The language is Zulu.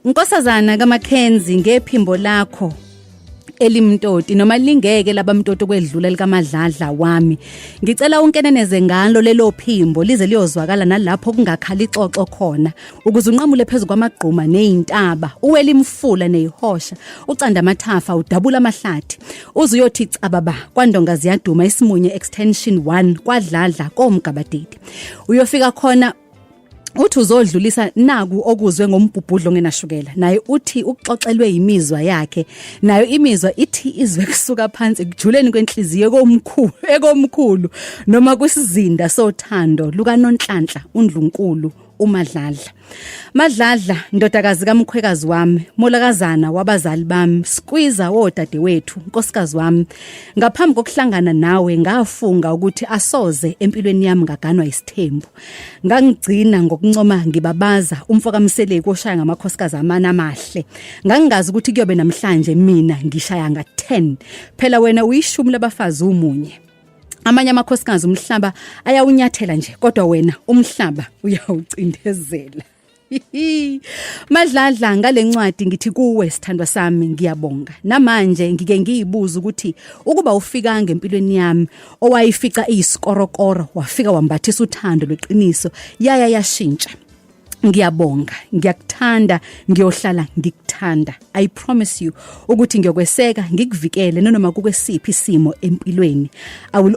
Nkosazana kaMackenzie ngephimbo lakho elimtoti noma lingeke labamtoti okwedlula likamadladla wami ngicela unkeneneze ngalo lelo phimbo lize liyozwakala nalapho kungakhala ixoxo khona ukuze unqamule phezulu kwamagquma nezintaba uwele imfula nezihosha ucanda amathafa udabula amahlathi uze uyothi cababa kwandonga ziyaduma isimunye extension 1 kwadladla komgabadidi uyofika khona uthi uzodlulisa naku okuzwe ngombhubhudlo ngenashukela naye uthi ukuxoxelwe imizwa yakhe nayo imizwa ithi izwe kusuka phansi ekujuleni kwenhliziyo komkhulu ekomkhulu noma kwisizinda sothando lukanonhlanhla undlunkulu uMadladla. Madladla ndodakazi kamkhwekazi wami, molakazana wabazali bami, skwiza wodade wethu, nkosikazi wami. Ngaphambi kokuhlangana nawe ngafunga ukuthi asoze empilweni yami ngaganwa isithembu. ngangigcina ngokuncoma ngibabaza umfo kaMseleku oshaya ngamakhosikazi amana amahle ngangingazi ukuthi kuyobe namhlanje mina ngishaya nga 10 phela wena uyishumi labafazi umunye amanye amakhosikazi umhlaba ayawunyathela nje kodwa wena umhlaba uyawucindezela Madladla ngalencwadi ngithi kuwe sithandwa sami ngiyabonga. Namanje ngike ngiyibuza ukuthi ukuba ufika ngempilweni yami owayifica isikorokoro wafika wambathisa uthando lweqiniso yaya yashintsha. ngiyabonga ngiyakuthanda ngiyohlala ngikuthanda i promise you ukuthi ngiyokweseka ngikuvikele noma kukwesiphi isimo empilweni i will